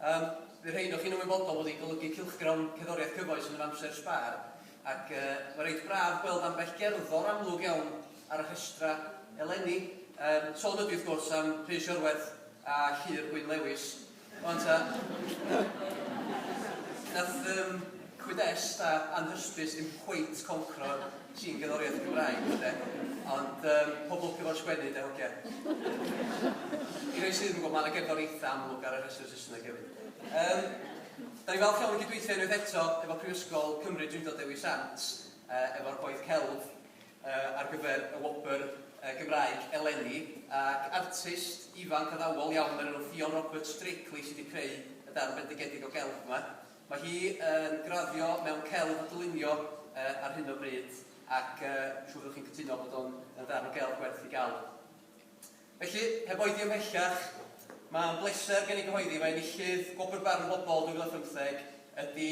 Yym, bydd rhai ohonoch chi'n ymwybodol bod hi'n golygu cylchgrawn cerddoriaeth cyfoes yn yr amser sbâr, ac yy, mae'n reit braf gweld ambell gerddor amlwg iawn ar y rhestrau eleni. Yym, sôn ydy wrth gwrs am Rhys Iorwerth a Llyr Gwyn Lewis. Ond ta, wnaeth yym, cwyd-dest a anhysbys ddim cweit concro'r Sy'n gerddoriaeth Gymraeg, de? Ond um, pobl cyfo'n sgwennu, de, hogia. I rei sydd yn gwybod, mae yna gerddor eitha amlwg ar y rhestr Saesneg hefyd. Um, da ni falch iawn i gydweithio unwaith eto efo Prifysgol Cymru Drindod Dewi Sant, uh, efo'r gwaith celf uh, ar gyfer y wobr uh, Gymraeg eleni, ac artist ifanc addawol iawn o'r enw Ffion Roberts Drakely sydd wedi creu y darn bendigedig o gelf yma. Mae hi yn graddio mewn celf a dylunio ar hyn o bryd ac dwi'n siŵr byddwch chi'n cytuno bod o'n yn ddarn o gelf gwerth ei gael. Felly, heb oedi ymhellach, mae'n bleser gen i gyhoeddi mai enillydd Gwobr Barn y Bobol 2015 ydi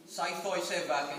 Saith Oes Eva gan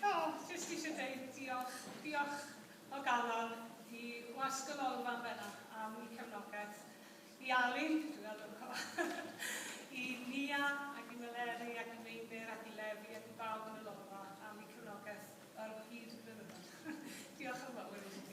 O, jyst eisiau deud diolch, diolch o galon i Wasg y Lolfa yn benna am i cefnogaeth i Ali, dwi'n meddwl yn co, i Nia ac i Meleri ac i Meinir ac i Lefi ac i bawb yn y Lolfa am i cefnogaeth ar hyd y blynyddoedd. diolch yn fawr i chi.